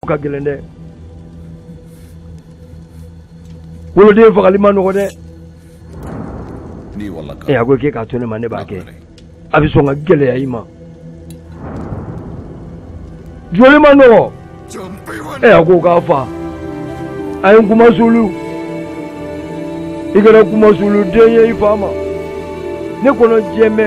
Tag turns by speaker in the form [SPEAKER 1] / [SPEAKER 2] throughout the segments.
[SPEAKER 1] ka gɛlɛn dɛ woloden fagali man nɔgɔ dɛ ee a ko k'e k'a to ne ma ne b'a kɛ a bɛ sɔn ka gɛlɛya i ma joli man nɔgɔ ee a ko k'a fa a ye n kuma sulu i kɛra kuma sulu den ye i fa ma ne kɔnɔ jɛmɛ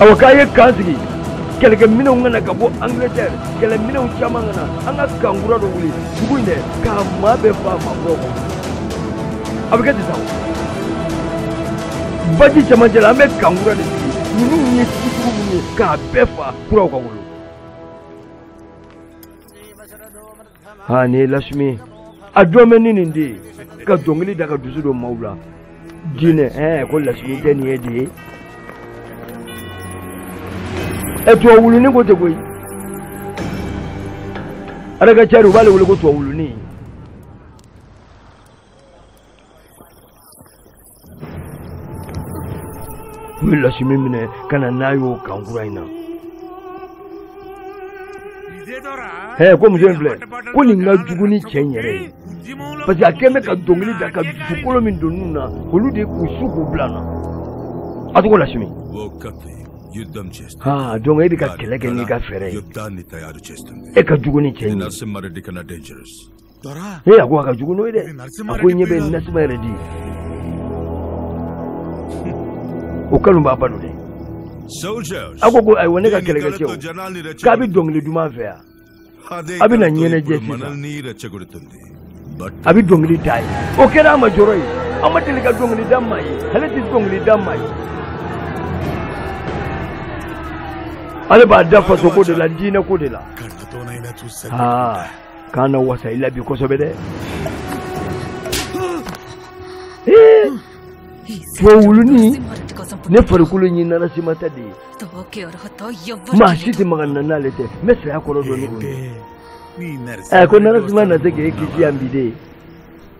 [SPEAKER 1] awa k'a ye kan sigi kɛlɛkɛminɛnw ka na ka bɔ angleterre kɛlɛminɛnw caman ka na an ka kan kura dɔ wuli dugu in na k'a maa bɛɛ fa mabɔ kɔ a bɛ kɛ ten sa baji cɛmancɛ la an bɛ kan kura de sigi ninnu ye setigiw minnu ye k'a bɛɛ fa kuraw ka wolo ha ni ye lasimi a jɔlen bɛ ni nin de ye ka dɔnkili da ka dusu don maaw la diinɛ ɛɛ ko lasimi de nin ye de ye ɛ tubabu wuluni ko tɛ koyi ale ka cari u b'ale wele ko tubabu wuluni u ye lasimi minɛ ka na n'a y'o kan kura in na hɛ ko muso in filɛ ko nin ka jugu ni cɛ in yɛrɛ ye parce que a kɛlen bɛ ka dɔnkili da ka dusukolo min don ninnu na olu de k'u su k'u bila an na a tɔgɔ lasimi ha donc e bɛ ka kɛlɛ kɛ n'i ka fɛɛrɛ ye e ka jugu ni cɛ in ye ne ya ko a ka jugu n'o ye dɛ a ko ɲɛ bɛ nasima yɛrɛ di o kanubaaba don dɛ a ko ko ayiwa ne ka kɛlɛkɛcɛw k'a bɛ dɔnkili duman fɛ yan a bɛ na ɲɛnajɛ sisan a bɛ dɔnkili da ye o kɛra a ma jɔrɔ ye a ma deli ka dɔnkili da maa ye ale tɛ dɔnkili da maa ye ale b'a da fasoko de la diinɛko de la aa k'an na wasa i la bi kosɛbɛ dɛ wa wuluni ne farikolo in nana sima ta de ye maa si tɛ maga n na n'ale tɛ n bɛ saya kɔrɔ dɔn ni o ye ɛ ko nana sima na se k'e kisi yan bi de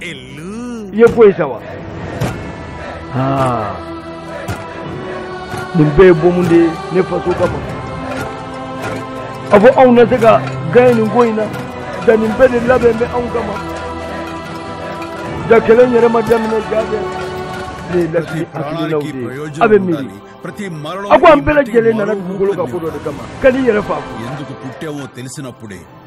[SPEAKER 1] i ye ko ye sa wa aa nin bɛɛ ye bomu de ye ne faso kama a ko anw na se ka gaɲɛ nin ko in na ja nin bɛɛ de labɛnnen bɛ anw kama ja kɛlɛ yɛrɛ ma daminɛ ja bɛ nin ye lasimi hakilinaw de ye a bɛ miiri a ko an bɛɛ lajɛlen nana dugukolo ka ko dɔ de kama ka n'i yɛrɛ fa ko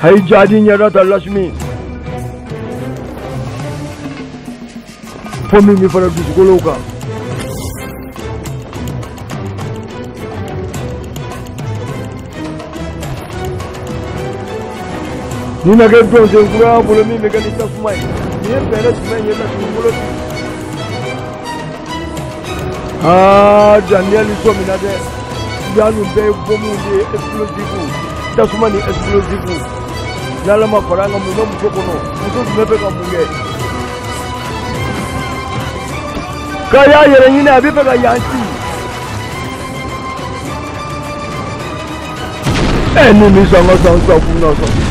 [SPEAKER 1] Hai jadi nyara da Lashmi. Fɔ min bɛ fara dusukolow kan. Nin na kɛ dɔnsen kura bolo min bɛ kɛ ni tasuma ye. Nin ye fɛɛrɛ jumɛn ye Lashmi bolo bi? aa ah, daniel sɔmina dɛ ya ninnu bɛɛ ye bɔmu de ye explosive tasuma ni explosive n'ala ma fara an kan mun bɛ muso kɔnɔ muso jumɛn bɛ ka mun kɛ k'a y'a yɛrɛ ɲini a bɛ fɛ ka yan ci ɛ ni ni san ka san san kun na sɔn.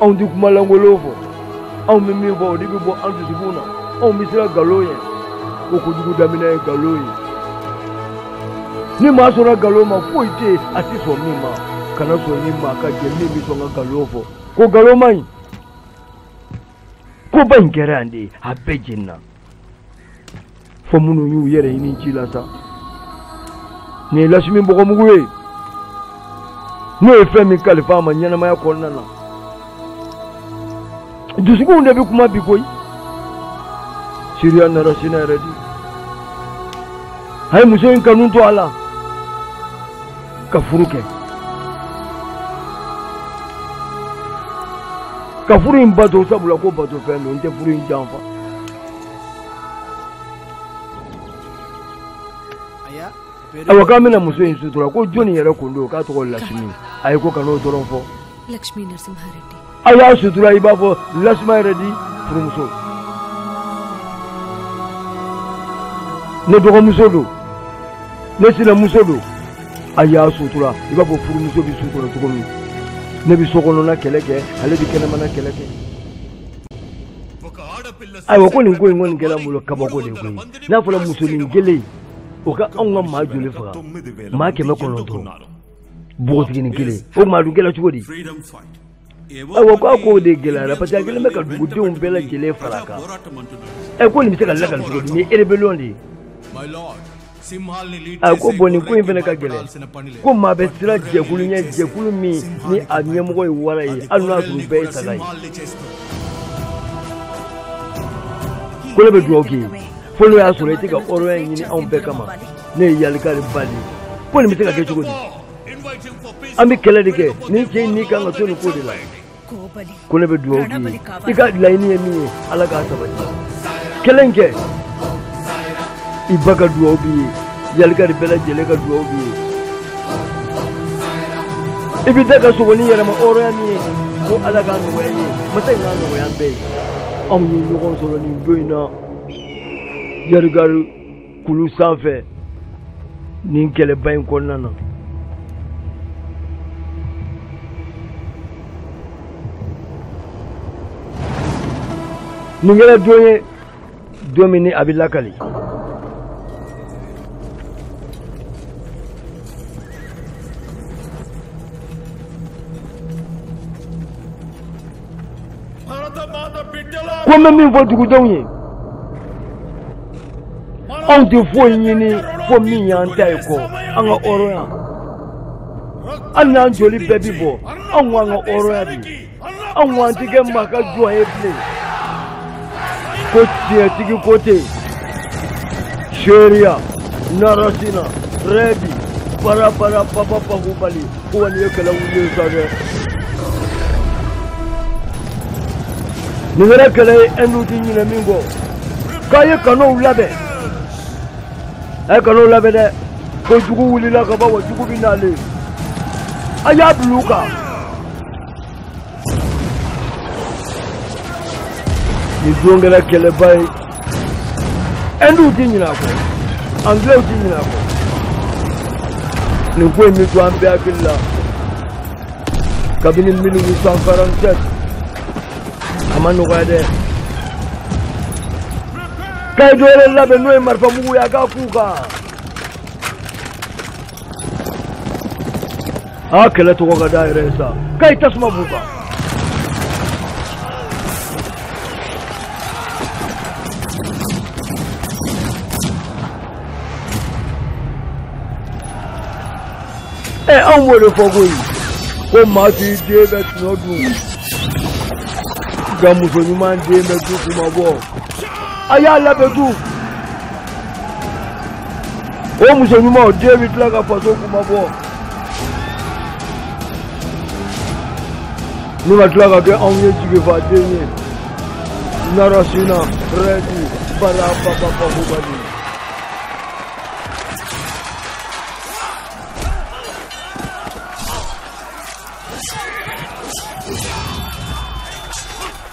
[SPEAKER 1] anw tɛ kuma lankolonw fɔ anw bɛ min fɔ o de bɛ bɔ an dusukun na anw bɛ siran nkalon ɲɛ ko kojugu daminɛ ye nkalon ye ni maa sɔnna nkalon ma foyi tɛ yen a tɛ sɔn min ma kana sɔn i ni maa ka jɛ min bɛ sɔn ka nkalon fɔ ko nkalon man ɲi koba in kɛra yan de a bɛɛ jenina fo minnu y'u yɛrɛ ɲini ji la sa nin ye lasimi bɔgɔmugu ye n'o ye fɛn min kalifa a ma ɲɛnamaya kɔnɔna na dusukunw de bɛ kuma bi koyi siriya narasima redi a ye muso in kanu to a la ka furu kɛ ka furu in bato sabula ko bato fɛn don n tɛ furu in janfa awa k'an bɛna muso in sutura ko jɔnni yɛrɛ ko don k'a tɔgɔ lasimi a ye ko kan'o dɔrɔn fɔ a y'a sutura i b'a fɔ narasima redi furumuso ne dɔgɔmuso don ne sinamuso don a y'a sutura i b'a fɔ furumuso bɛ so kɔnɔ cogo min ne bɛ so kɔnɔna kɛlɛ kɛ ale bɛ kɛnɛmana kɛlɛ kɛ ayiwa ko nin ko in kɔni kɛra n bolo kabako de ye koyi n'a fɔra musonin kelen o ka anw ka maa joli faga maa kɛmɛ kɔnɔntɔn npogotiginin kelen o maa dun kɛra cogo di awa ko a ko de gɛlɛyara parce que a kelen bɛ ka dugudenw bɛɛ lajɛlen far'a kan ɛ ko nin bɛ se ka lakali cogo di nin ye rébellion de ye a ko bon nin ko in fana ka gɛlɛn ko maa bɛ siran jɛkulu ɲɛ jɛkulu min ni a ɲɛmɔgɔ ye wara ye hali n'a sɔrɔ u bɛɛ ye saga ye ko ne bɛ dugawu k'i ye fo n'o y'a sɔrɔ i tɛ ka hɔrɔnya ɲini anw bɛɛ kama ne ye yalikari ba de ye ko nin bɛ se ka kɛ cogo di an bɛ kɛlɛ de kɛ nin cɛ in ni kan ka to nin ko de la ko ne bɛ dugawu k'i ye i ka laɲini ye min ye ala k'a sabati kɛlɛ in kɛ i ba ka dugawu b'i ye yalikari bɛɛ lajɛlen ka dugawu b'i ye i bɛ taa ka segin ni yɛrɛma hɔrɔnya min ye ko ala k'a nɔgɔya i ye masa in k'a nɔgɔya an bɛɛ ye anw ye ɲɔgɔn sɔrɔ nin don in na yarigari kulu sanfɛ nin kɛlɛba in kɔnɔna na nin kɛra don ye don min ni a bɛ lakali ko n bɛ min fɔ dugudenw ye anw tɛ foyi ɲini fo min y'an ta ye ko an ka hɔrɔnya hali n'an joli bɛɛ bi bɔ aw k'an ka hɔrɔnya di an ma an ti kɛ maa ka jɔn ye bilen ko tiɲɛtigi ko tɛ seereya narasina rɛdi barabara papa pakubali ko wani ye kɛlɛ wuli ye sa dɛ nin kɛra kɛlɛ ye ɛnduw ti ɲinɛ min kɔ k'a ye kanɔnw labɛn a ye kanɔnw labɛn dɛ ko jugu wulila ka ban wa jugu bɛ na dɛ a y'a bila u kan nin don kɛra kɛlɛba ye ɛnduw ti ɲinɛ a kɔ anglɛw ti ɲinɛ a kɔ nin ko in bɛ to an bɛɛ hakili la kabini 1847 a ma nɔgɔya dɛ k'a ye dɔ wɛrɛ labɛn n'o ye marifamugu ye a k'a k'u kan a kɛlɛ tɔgɔ ka da yɛrɛ ye sa k'a ye tasuma b'u kan ɛ anw b'o de fɔ koyi ko maa t'i den bɛɛ tɔnɔ dun nka muso ɲuman den bɛ du kunmabɔ a y'a labɛn du o muso ɲuman o den bɛ tila ka faso kunmabɔ ni ka tila ka kɛ anw ye jigifaden ye narasina rɛdi bala papapakubali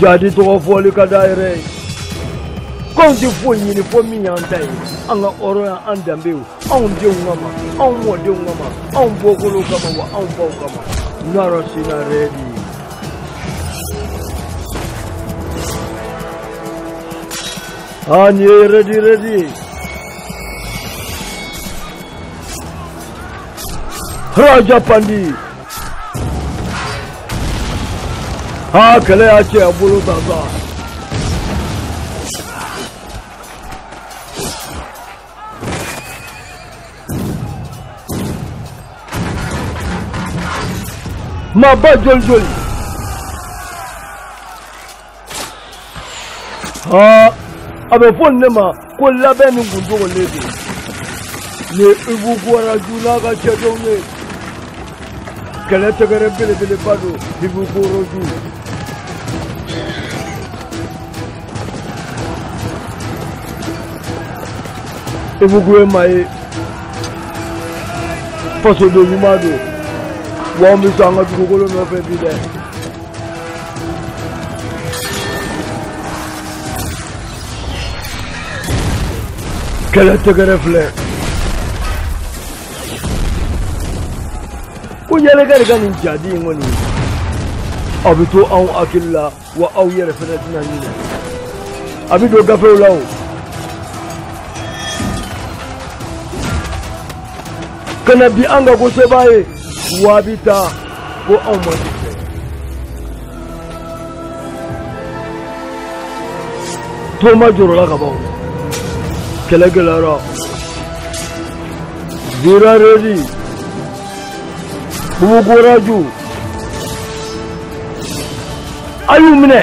[SPEAKER 1] jadi tɔgɔ fɔli ka d'a yɛrɛ ye k'anw tɛ foyi ɲini fo min y'an ta ye an ka hɔrɔnya an danbe ye anw denw kama anw mɔdenw kama anw bɔkolow kama wa anw baw kama narasimha rɛdi aa nin ye rɛdi rɛdi ye Raja Pandi ha kɛlɛ y'a cɛ a bolo gansan maba joli joli aa a bɛ fɔ ne ma ko labɛnni kun dogolen don ni ibuku raju n'a ka cɛdenw ye kɛlɛ tɛgɛrɛ belebeleba don ibuku raju ibuku ye maa ye fasoden ɲuman don wa an bɛ sɔn an ka dugukolo nɔfɛ bi dɛ kɛlɛ tɛgɛrɛ filɛ ko yɛlɛkɛ de ka nin jadi in kɔni a bɛ to anw hakili la wa aw yɛrɛ fana tɛna ɲinɛ a bɛ don gafew la o ka na di an ka ko sebaa ye waa bi taa ko anw ma di fɛ toma jɔrɔla ka ban kɛlɛ gɛlɛyara vira redi ibuku raju a y'u minɛ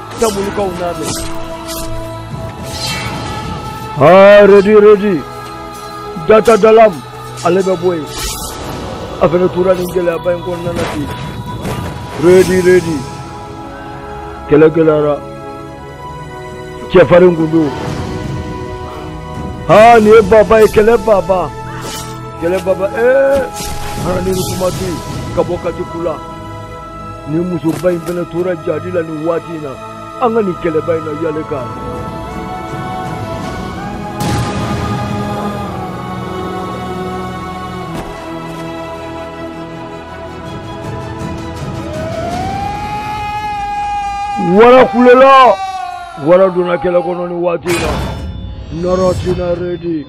[SPEAKER 1] Tamulukaw nana. Ah, Redi, Redi. Data dalam. Ale bɛ bɔ yen. A fɛnɛ tora nin gɛlɛyaba in kɔnɔna na ten. Redi, Redi. Kɛlɛ gɛlɛyara. Cɛfarin kun don. Haa nin ye baba ye kɛlɛ baba. Kɛlɛ baba ee. Hana ni kuma tɛ yen ka bɔ kati kula. ni musoba in fana tora jahadi la nin waati in na an ka nin kɛlɛba in na yale k'a wara kulela wara donna kɛlɛ kɔnɔ nin waati in na Narasina Redi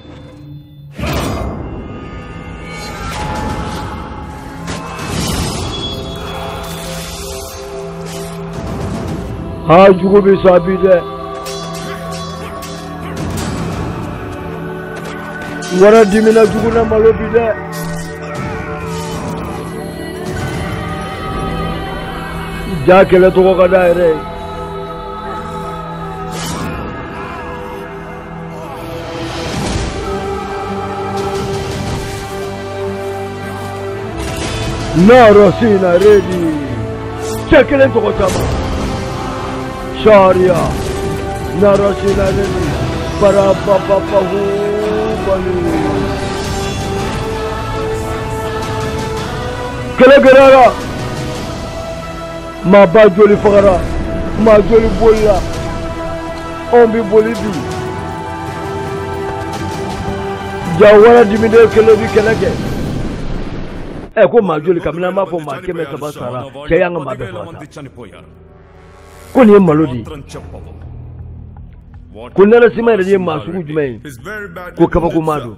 [SPEAKER 1] aa jugu bɛ sa bi dɛ wara dimina jugu na malo bi dɛ jaa kɛlɛ tɔgɔ ka d'a yɛrɛ ye Narasina Redi cɛ kelen tɔgɔ caman Sariya Narasina Redi para papa Bahubali kɛlɛ gɛlɛyara maa ba joli fagara maa joli bolila anw bɛ boli bi jaa wara diminen kelen bɛ kɛlɛ kɛ ɛ ko maa joli kabini an b'a fɔ maa kɛmɛ saba sara cɛ y'an ka maa bɛɛ faga sa ko nin ye malo de ye ko Narasima Redi ye maa sugu jumɛn ye ko kabakomaa don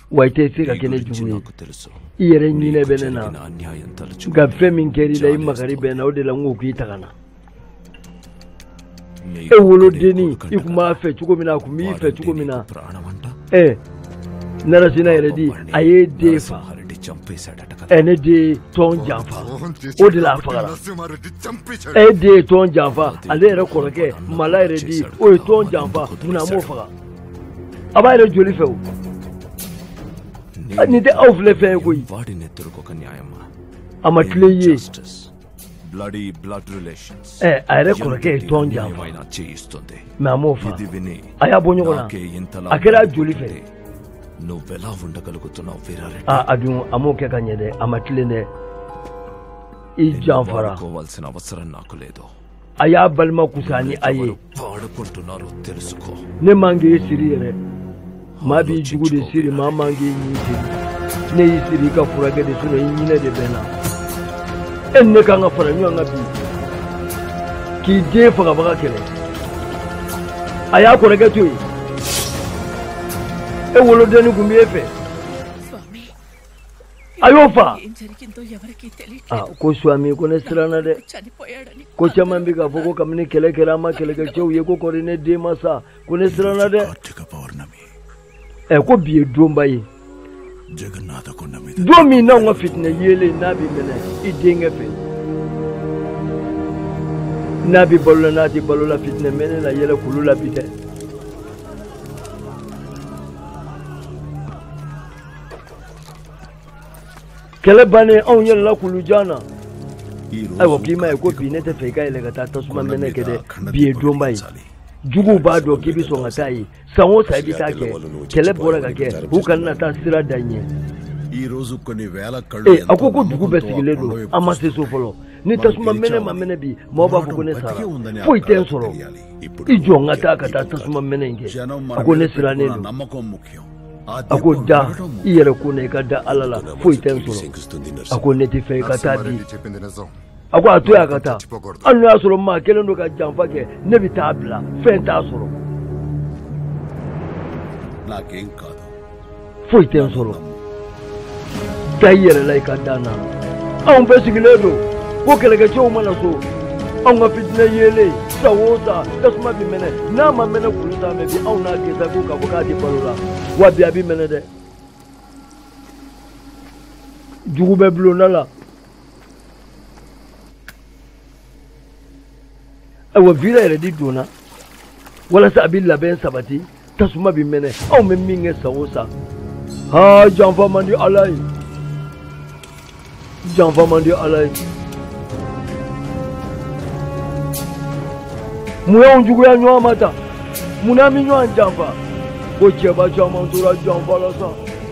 [SPEAKER 1] wa i tɛ se ka kɛ ne jugu ye i yɛrɛ ɲinɛ bɛ ne na nka fɛn min kɛra i la i makari bɛ n na o de la n ko k'i ta ka na e wolodennin i tun b'a fɛ cogo min na a tun b'i fɛ cogo min na ɛ Narasina Redi a y'e den faga ɛ ne den ye tɔn janfa o de la a fagara e den ye tɔn janfa ale yɛrɛ kɔrɔkɛ Mala Redi o ye tɔn janfa munna a m'o faga a b'a yɛrɛ joli fɛ o nin tɛ aw filɛ fɛn ye koyi a ma tilen i ye ɛ a yɛrɛ kɔrɔkɛ ye tɔn janfa a m'o faga a y'a bɔ ɲɔgɔn na a kɛra joli fɛ aa a dun a m'o kɛ ka ɲɛ dɛ a ma tilen dɛ i janfara a y'a balima fusaya ni a ye ne man k'i siri yɛrɛ maa b'i jugu de siri maa man k'i ɲin siri ne y'i siri i ka furakɛ de sinon i ɲinɛ de bɛ n na e ni ne kan ka fara ɲɔgɔn kan bi k'i den fagabaga kɛlɛ a y'a kɔrɔkɛ to yen e wolodennin tun b'e fɛ ayiwa fa ko suami ko ne siranna dɛ ko caman bɛ k'a fɔ ko kabini kɛlɛ kɛra an ma kɛlɛkɛcɛw ye ko kɔri ne den ma sa ko ne siranna dɛ ɛ ko bi ye donba ye don min n'anw ka fitinɛ yeelen n'a bɛ mɛnɛ i denkɛ fɛ n'a bɛ balo la n'a tɛ balo la fitinɛ mɛnɛ na yɛlɛ kulu la bi dɛ kɛlɛ bannen anw yɛlɛla kulu jan na ayiwa k'i ma ye ko bi ne tɛ fɛ i ka yɛlɛ ka taa tasuma mɛnɛ kɛ dɛ bi ye donba ye juguw b'a dɔn k'i bɛ sɔn ka taa yen san o san i bɛ taa kɛ kɛlɛ bɔra ka kɛ u kana na taa sira da ɲɛ ee a ko ko dugu bɛɛ sigilen don an ma se so fɔlɔ ni tasuma mɛnɛ ma mɛnɛ bi mɔgɔ b'a fɔ ko ne sara foyi tɛ n sɔrɔ i jɔ n ka taa ka taa tasuma mɛnɛ in kɛ a ko ne sirannen don a ko da i yɛrɛ ko ne i ka da ala la foyi tɛ n sɔrɔ a ko ne tɛ fɛ i ka taa dɛ a ko a to y'a ka taa hali n'o y'a sɔrɔ maa kelen don ka janfa kɛ ne bɛ taa bila fɛn t'a sɔrɔ foyi tɛ n sɔrɔ da i yɛrɛ la i ka dan na anw bɛɛ sigilen don ko kɛlɛkɛcɛw ma na so anw ka fitinɛ yeelen san o san tasuma bɛ mɛnɛ n'a ma mɛnɛ kulu t'a mɛ bi anw n'a kɛ sa ko k'a fɔ k'a den balola wa bi a bɛ mɛnɛ dɛ jugu bɛ bulonda la ayiwa vira yɛrɛ di donna walasa a bɛ labɛn sabati tasuma bɛ mɛnɛ anw bɛ min kɛ san o san haa janfa man di ala ye janfa man di ala ye mun y'anw juguya ɲɔgɔn ma tan mun na an bɛ ɲɔgɔn janfa ko cɛba caman tora janfa la sa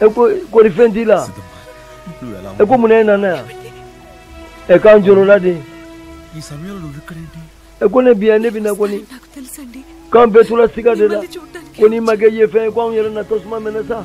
[SPEAKER 1] ɛ ko kɔri fɛn t'i la ɛ ko mun na e nana yan ɛ k'an jɔrɔla de ɛ ko ne bɛ yan ne bɛ na kɔni k'an bɛɛ tora siga de la ko n'i ma kɛ ye fɛn ye ko anw yɛrɛ na tasuma mɛnɛ sa.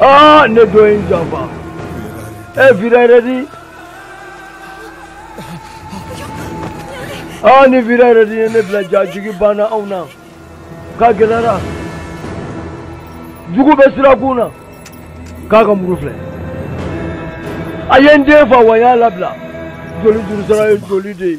[SPEAKER 1] aa ni dɔ ye n janfa e vira yɛrɛ di aa ni vira yɛrɛ di ye ne bila jaa jigi banna anw na k'a gɛlɛyara jugu bɛ sirakun na k'a ka muru filɛ a ye n den faga wa n y'a labila joli jurusara ye joli de ye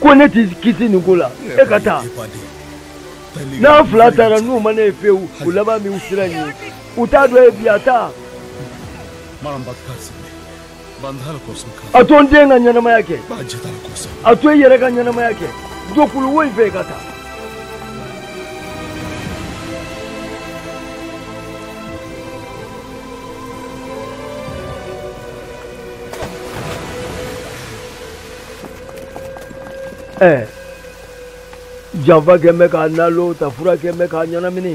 [SPEAKER 1] ko ne t'i kisi nin ko la e ka taa n'an fila taara n'u ma ne ye pewu u laban min u sira nin ye u t'a dɔn ye bi a taa a to n den ka ɲɛnamaya kɛ a to i yɛrɛ ka ɲɛnamaya kɛ don kulu wo in fɛ i ka taa ɛ janfa kɛ bɛ k'a nalo ta fura kɛ bɛ k'a ɲɛnamini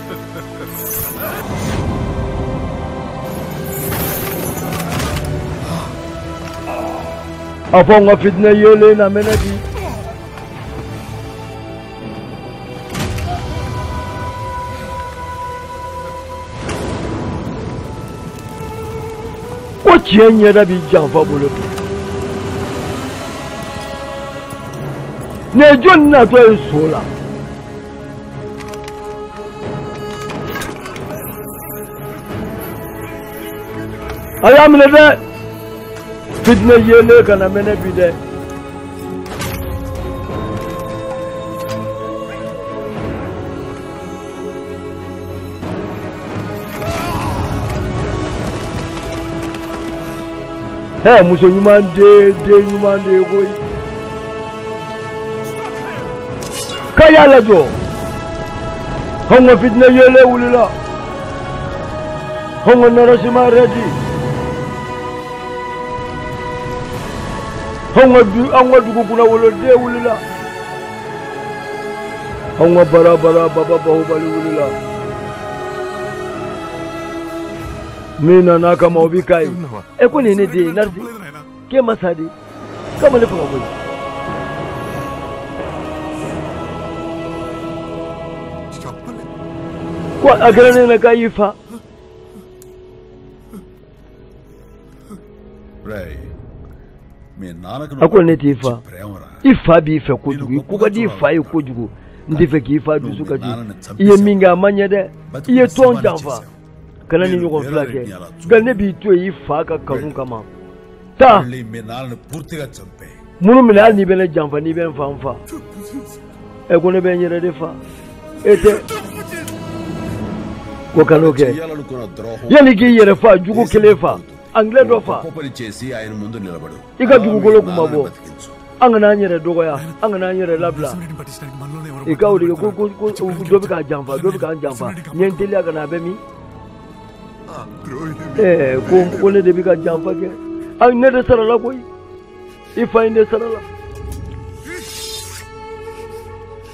[SPEAKER 1] a fɔ n ka fitinɛ yeelen na mɛnɛ bi ko tiɲɛ ɲɛda b'i janfa bolo bi nin ye jɔni natɔ ye su la a y'a minɛ dɛ fitinɛ yeelen kana mɛnɛ bi dɛ hɛ muso ɲuman den den ɲuman de ye koyi k'a y'a lajɔ anw ka fitinɛ yeelen wulila anw ka narasimha reddy anw ka du anw ka dugu kunnawoloden wulila anw ka bara bara baba bahubali wulila min nana kama o bi ka ye e ko nin ye ne den ye narasi k'e ma sa de k'a ma ne faga koyi ko a kɛra n ɲɛ na k'a y'i faa ko ne t'i fa i fa b'i fɛ kojugu i ko ka di i fa ye kojugu n t'a fɛ k'i fa dusu kasi i ye min kɛ a ma ɲɛ dɛ i ye tɔn janfa kana nin ɲɔgɔn fila kɛ nka ne b'i to yen i fa ka kanu kama taa muru minɛ hali n'i bɛ ne janfa n'i bɛ n fa n fa ɛ ko ne bɛ n yɛrɛ de fa e tɛ ko kan'o kɛ yanni i k'i yɛrɛ fa jugu kelen fa angilɛ dɔ fa i ka dugukolo kunmabɔ an kana an yɛrɛ dɔgɔya an kana an yɛrɛ labila i ka de ko ko ko dɔ bɛ k'a janfa dɔ bɛ k'an janfa ɲɛ n teliya ka na a bɛ min ɛɛ ko ko ne de bɛ ka janfa kɛ ayi ne de sarala koyi i fa in de sarala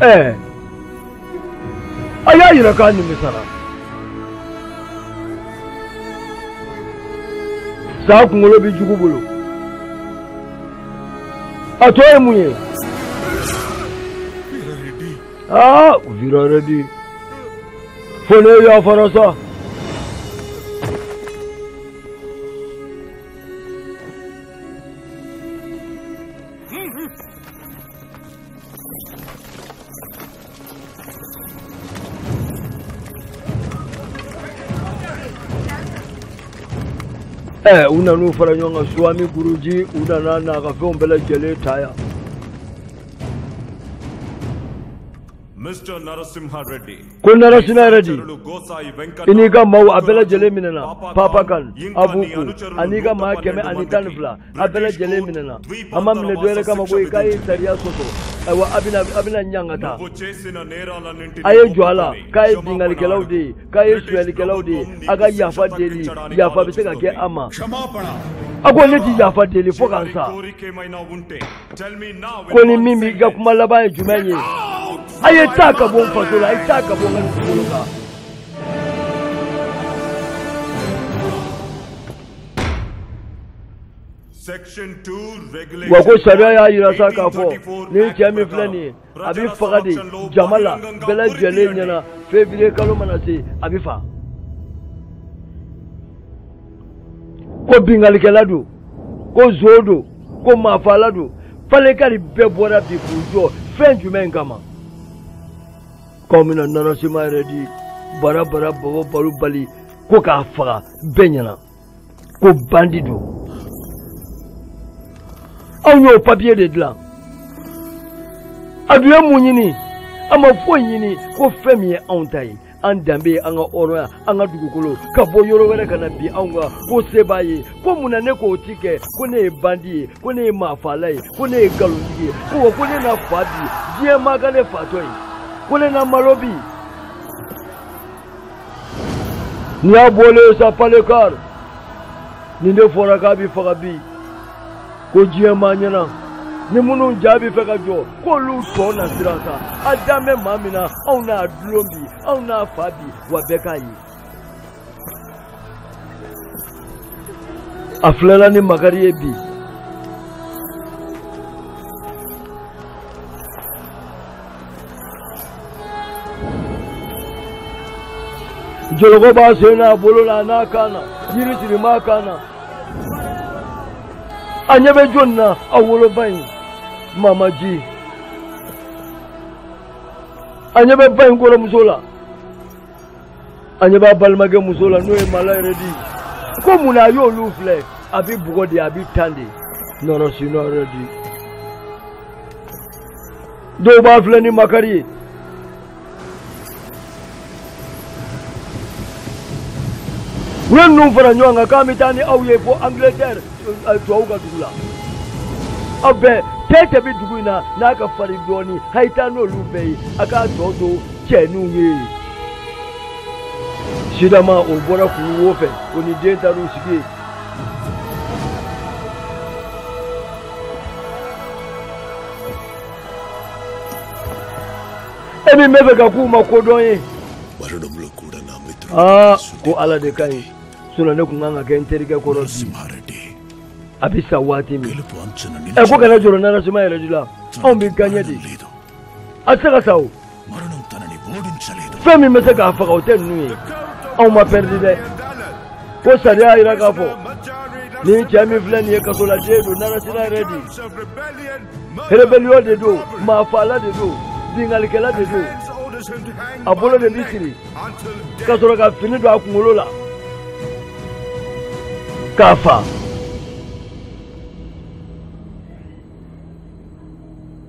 [SPEAKER 1] ɛɛ a y'a yira k'a nimisara saa kunkolo bɛ jugu bolo a tɔ ye mun ye. aa bira redi fana yafara sa ɛ u nan'u fara ɲɔgɔn kan suwami guruji u nana n'a ka fɛnw bɛɛ lajɛlen ta yan ko narasima redi i n'i ka maaw a bɛɛ lajɛlen minɛna papa kan abuku an'i ka maa kɛmɛ ani tan ni fila a bɛɛ lajɛlen minɛna a ma minɛ dɔwɛrɛ kama koyi k'a ye sariya sɔsɔ ayiwa a bɛna a bɛna ɲangata a ye jɔ a la k'a ye binkalikɛlaw de ye k'a ye suyɛlikɛlaw de ye a ka yafa deli yafa bɛ se ka kɛ a ma a ko ne ti yafa deli fo ka n sa ko ni min b'i ka kuma laban ye jumɛn ye a ye taa ka bɔ n faso la a ye taa ka bɔ n ka dugukolo kan wa ko sariya y'a yira sa k'a fɔ nin cɛ min filɛ nin ye a bɛ faga de jama la bɛɛ lajɛlen ɲɛna feburuye kalo mana se a bɛ faga ko binkalikɛla don ko zon don ko maafala don palekari bɛɛ bɔra bi k'u jɔ fɛn jumɛn kama k'u bɛna narasima redi bara bara bɔbɔ balo bali ko k'a faga bɛɛ ɲɛna ko bandi don anw y'o papiye de dilan an dun ye mun ɲini an ma foyi ɲini ko fɛn min ye anw ta ye an danbe ye an ka hɔrɔnya an ka dugukolo ka bɔ yɔrɔ wɛrɛ ka na bin anw kan ko se b'a ye ko mun na ne k'o ti kɛ ko ne ye bandi ye ko ne ye maafala ye ko ne ye nkalontigi ye ko wa ko ne na fa bi diɲɛ maa ka ne fatɔ ye ko ne na malo bi n'i y'a bɔlen ye sa palekar nin de fɔra k'a bɛ faga bi ko diɲɛ ma ɲɛna ni minnu ja bɛ fɛ ka jɔ k'olu tɔ na siran sa a dan bɛ maa min na anw n'a dulon bi anw n'a fa bi wa bɛɛ k'a ye a filɛla ni makari ye bi jɔlɔkɔ b'a sen n'a bolo la a n'a kan na yiri siri b'a kan na a ɲɛ bɛ jɔni na a woloba in mamaji a ɲɛ bɛ ba in kɔrɔmuso la a ɲɛ b'a balimakɛ muso la n'o ye mala redi ko mun na a y'olu filɛ a bɛ bugɔ de a bɛ tan de narasima redi. dɔw b'a filɛ ni makari ye u ye ninnu fara ɲɔgɔn kan k'an bɛ taa ni aw ye fo angilɛtɛri eh, tubabu ka dugu la aw bɛɛ cɛ cɛ bɛ dugu in na n'a ka farin dɔɔnin a ye taa n'olu bɛɛ ye a k'a tɔ to cɛninw ye sidama o bɔra kuru wo fɛ o ni den taar'u sigi yen e min bɛ fɛ ka kuma kodɔn ye aa ko ala de ka ɲi sinɔn ne tun kan ka kɛ n terikɛ kɔrɔ bi a bɛ sa waati min ɛ ko kana jɔrɔ narasima redi la anw bɛ gaɲɛ de a tɛ se ka sa o fɛn min bɛ se k'a faga o tɛ ninnu ye anw ma pɛridi dɛ ko sariya y'a jira k'a fɔ nin cɛ min filɛ nin ye kasoladen don narasima redi rebellion de don maafala de don binkannikɛla de don a bolo de bɛ siri ka sɔrɔ ka fini don a kunkolo la k'a fa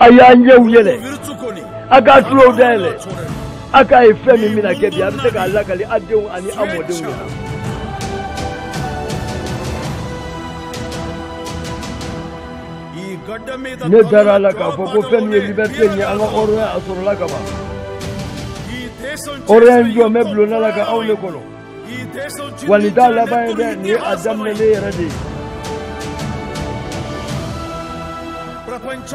[SPEAKER 1] a y'a ɲɛw yɛlɛ a k'a tulow dayɛlɛ a k'a ye fɛn min bɛna kɛ bi a bɛ se k'a lakali a denw ani a mɔdenw na. ne dara a la k'a fɔ ko fɛn min ye liberté ye an ka hɔrɔnya a sɔrɔla ka ban hɔrɔnya in jɔlen bɛ bulonda la ka aw le kɔnɔ wa nin t'a laban ye dɛ nin ye a daminɛ ne yɛrɛ de ye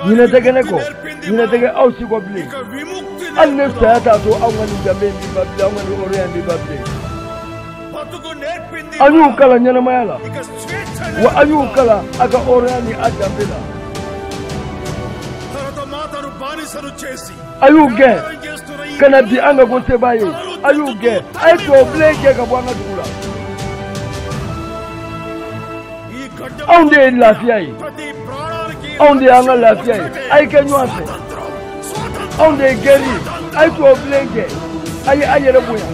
[SPEAKER 1] ɲinɛ tɛ kɛ ne kɔ ɲinɛ tɛ kɛ aw si kɔ bilen hali ne saya t'a to aw ka nin danbe in b'i ba bilen aw ka nin hɔrɔnya in b'i ba bilen a y'u kalan ɲɛnamaya la wa a y'u kalan a ka hɔrɔnya ni a danbe la a y'u gɛn ka na bi an ka ko sebaa ye a y'u gɛn a ye tubabu bilen gɛn ka bɔ an ka dugu la anw de ye lafiya ye anw de y'an ka lafiya ye a ye kɛ ɲɔgɔn fɛ anw de ye gɛri ye a ye tubabu bilen gɛn a ye a yɛrɛ bonya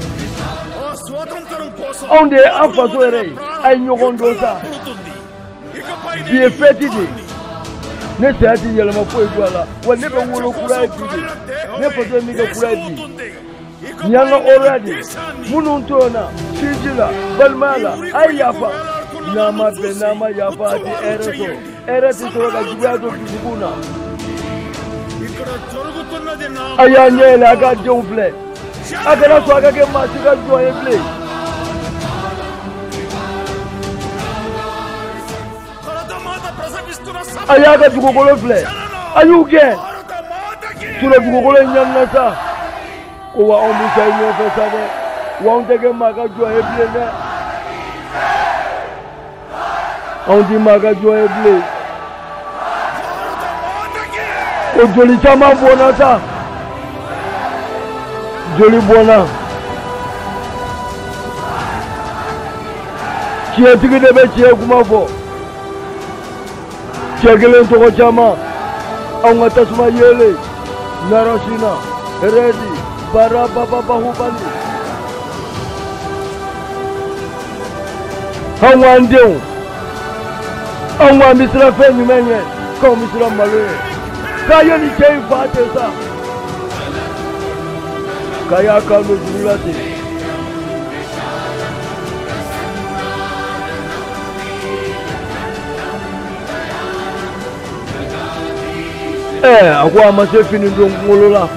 [SPEAKER 1] anw de ye an faso yɛrɛ ye a ye ɲɔgɔn dɔn sa bi ye fɛti de ye ne saya ti yɛlɛma foyi don a la wa ne bɛ wolo kura ye bi de ne faso ye min kɛ kura ye bi nin y'an ka hɔrɔnya de ye minnu tɔɲɔna sinji la balimaya la a ye yafa n'a ma bɛn n'a ma yafa a ti hɛrɛ sɔrɔ hɛrɛ ti sɔrɔ ka juguya to dusukun na a y'a ɲɛ yɛlɛ a ka denw filɛ a kana sɔn a ka kɛ maa si ka jɔn ye bilen. a y'a ka dugukolo filɛ a y'u gɛn tolo dugukolo in ɲanina sa ko wa anw bɛ sa i ɲɔgɔn fɛ sa dɛ wa anw tɛ kɛ maa ka jɔn ye bilen dɛ. anw ti maa ka jɔn ye bilen o joli caman bɔnna sa joli bɔnna tiɲɛtigi de bɛ tiɲɛ kuma fɔ cɛ kelen tɔgɔ caman anw ka tasuma yeelen narɔsina rɛdi bara bababahubali anw k'an denw anw k'an bɛ siran fɛn jumɛn ɲɛ k'anw bɛ siran malo ɲɛ k'a ye nin cɛ in faga ten sa k'a y'a kan don juru la ten ɛ a ko a ma se fini don kunkolo la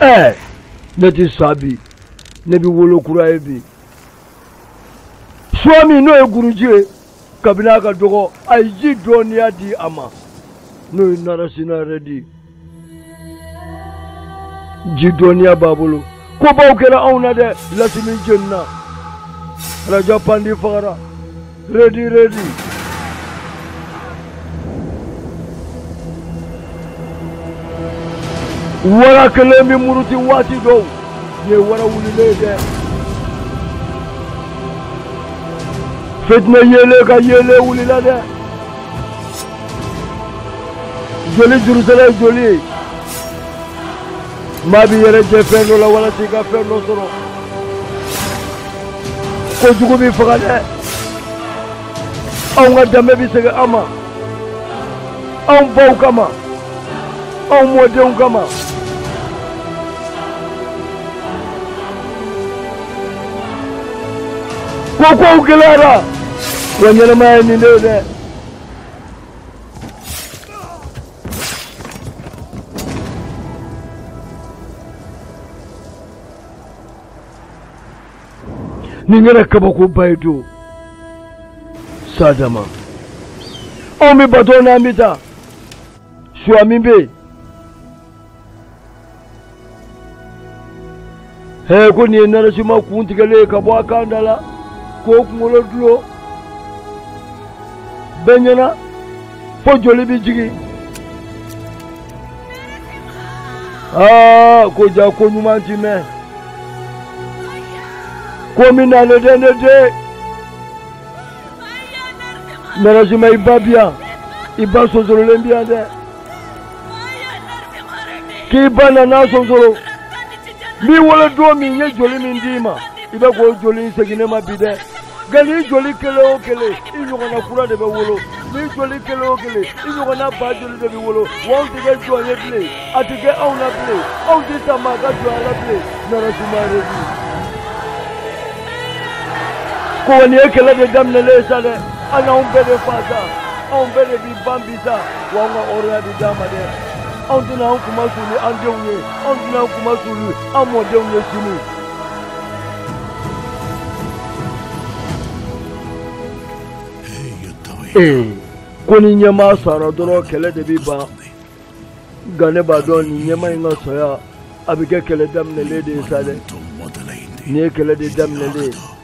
[SPEAKER 1] ɛ ne ti sa bi ne bɛ wolo kura ye bi suwami n'o ye guruji ye kabini a ka dɔgɔ a ye ji dɔnniya di a ma n'o ye narasina rɛdi ji dɔnniya b'a bolo kobaw kɛra anw na dɛ lasimi jenina raja pandi fagara Rɛdi, Rɛdi. Wara kelen bɛ muruti waati dɔw ye wara wulilen dɛ. Fitinɛ yeelen ka yeelen wulila dɛ. Joli juru saralen joli ye. maa b'i yɛrɛ jɛ fɛn dɔ la walasa i ka fɛn dɔ sɔrɔ ko jugu b'i faga dɛ anw ka danbe bɛ segin an ma anw baw kama anw mɔdenw kama ko kow gɛlɛyara wa ɲɛnamaya ye nin de ye dɛ nin kɛra kabakoba ye don sa dama anw bɛ bato n'an bɛ taa suya min bɛ yen hee ko nin ye narasima kun tigɛlen ye ka bɔ a kan da la k'o kunkolo dulon bɛɛ ɲɛna fo joli bɛ jigin aa ko jaa ko ɲuman ti mɛn ko min na ne den ne den narasima i ba bi yan i ba sonsorolen bi yan dɛ k'i ba nana sonsoro n'i wolodon min ye joli min d'i ma i bɛ k'o joli in segin ne ma bi dɛ nka n'i joli kelen o kelen i ɲɔgɔnna kura de bɛ wolo n'i joli kelen o kelen i ɲɔgɔnna ba joli de bɛ wolo wa anw tɛ kɛ jɔn ye bilen a tɛ kɛ anw na bilen anw tɛ sa maa ka jɔnya la bilen narasima rɛdi ko wa nin ye kɛlɛ de daminɛlen ye sa dɛ a n'anw bɛɛ de faga anw bɛɛ de bi ban bi sa Wa an ka hɔrɔnya di d'an ma dɛ anw tɛna an kunmasuli an denw ye anw tɛna an kunmasuli an mɔdenw ye sini ee ko ni ɲɛmaa sara dɔrɔn kɛlɛ de bɛ ban nka ne b'a dɔn nin ɲɛmaa in ka saya a bɛ kɛ kɛlɛ daminɛlen de ye sa dɛ nin ye kɛlɛ de daminɛlen ye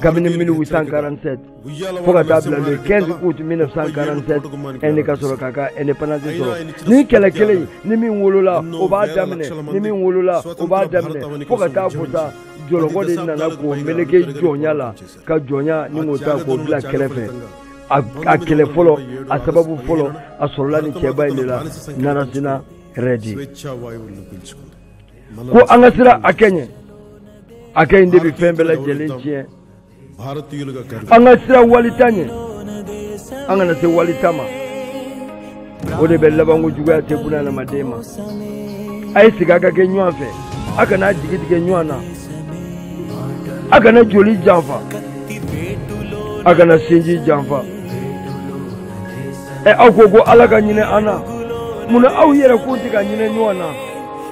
[SPEAKER 1] kabini 1847 fo ka taa bila le 15 août 1947 Inde ka sɔrɔ k'a ka indépendance sɔrɔ ni kɛlɛ kelen ye ni min wolola o b'a daminɛ ni min wolola o b'a daminɛ fo ka taa fo sa jɔlɔkɔ de nana k'o meleke jɔnya la ka jɔnya nin k'o ta k'o bila kɛrɛfɛ a kɛlɛ fɔlɔ a sababu fɔlɔ a sɔrɔla ni cɛba in de la narasima rɛdi ko an ka sira a kɛ ɲɛ a kɛ in de bɛ fɛn bɛɛ lajɛlen tiɲɛ an ka siran wali ta ɲɛ an kana se wali ta ma o de bɛ labanko juguya tɛ buna adamaden ma a ye sigi a ka kɛ ɲɔgɔn fɛ a kana jigi tigɛ ɲɔgɔn na a kana joli janfa a kana sinji janfa ɛ aw ko ko ala ka hinɛ an na mun na aw yɛrɛ ko tɛ ka hinɛ ɲɔgɔn na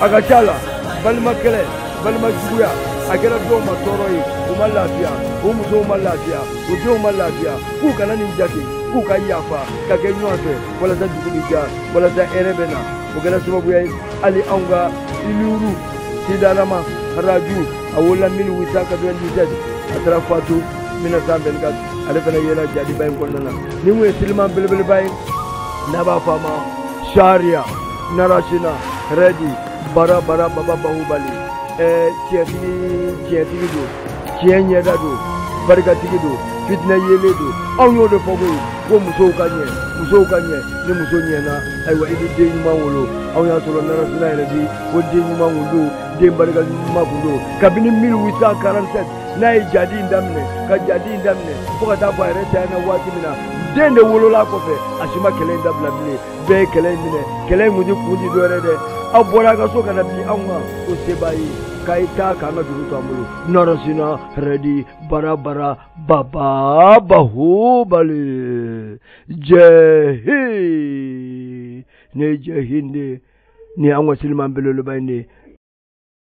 [SPEAKER 1] a ka ca la balima kɛlɛ balima juguya a kɛra dɔw ma tɔɔrɔ ye u ma lafiya u musow ma lafiya u denw ma lafiya k'u kana nin jate k'u ka yafa ka kɛ ɲɔgɔn fɛ walasa dugu bɛ diya walasa hɛrɛ bɛ na o kɛra sababuya ye hali anw ka aluri sitarama raju a wolola 1897 a taara fatu 1924 ale fana yera jadiba in kɔnɔna na nin kun ye siliman belebeleba ye n'a b'a fɔ a ma sariya narasina rɛdi bara bara baba bahubali ɛɛ tiɲɛtigi tiɲɛtigi don tiɲɛ ɲɛda don barikatigi don fitinɛ yelen don anw y'o de fɔ koyi ko musow ka ɲɛ musow ka ɲɛ ni muso ɲɛna ayiwa i bɛ den ɲuman wolo anw y'a sɔrɔ narasina rɛdi ko den ɲuman kun don den barika ɲuman kun don kabini 1847 n'a ye jadi in daminɛ ka jadi in daminɛ fo ka taa fɔ a yɛrɛ tanyana waati min na den de wolola kɔfɛ a si ma kɛlɛ in dabila bilen bɛɛ ye kɛlɛ in minɛ kɛlɛ in kun tɛ kun tɛ dɔwɛrɛ dɛ aw bɔra a ka so ka na bin anw kan o se b'a ye k'a ye taa k'an ka dugu to an bolo narasina rɛdi bara bara baba bahubali jai hind jai hind ni an ka siliman belebeleba in de ye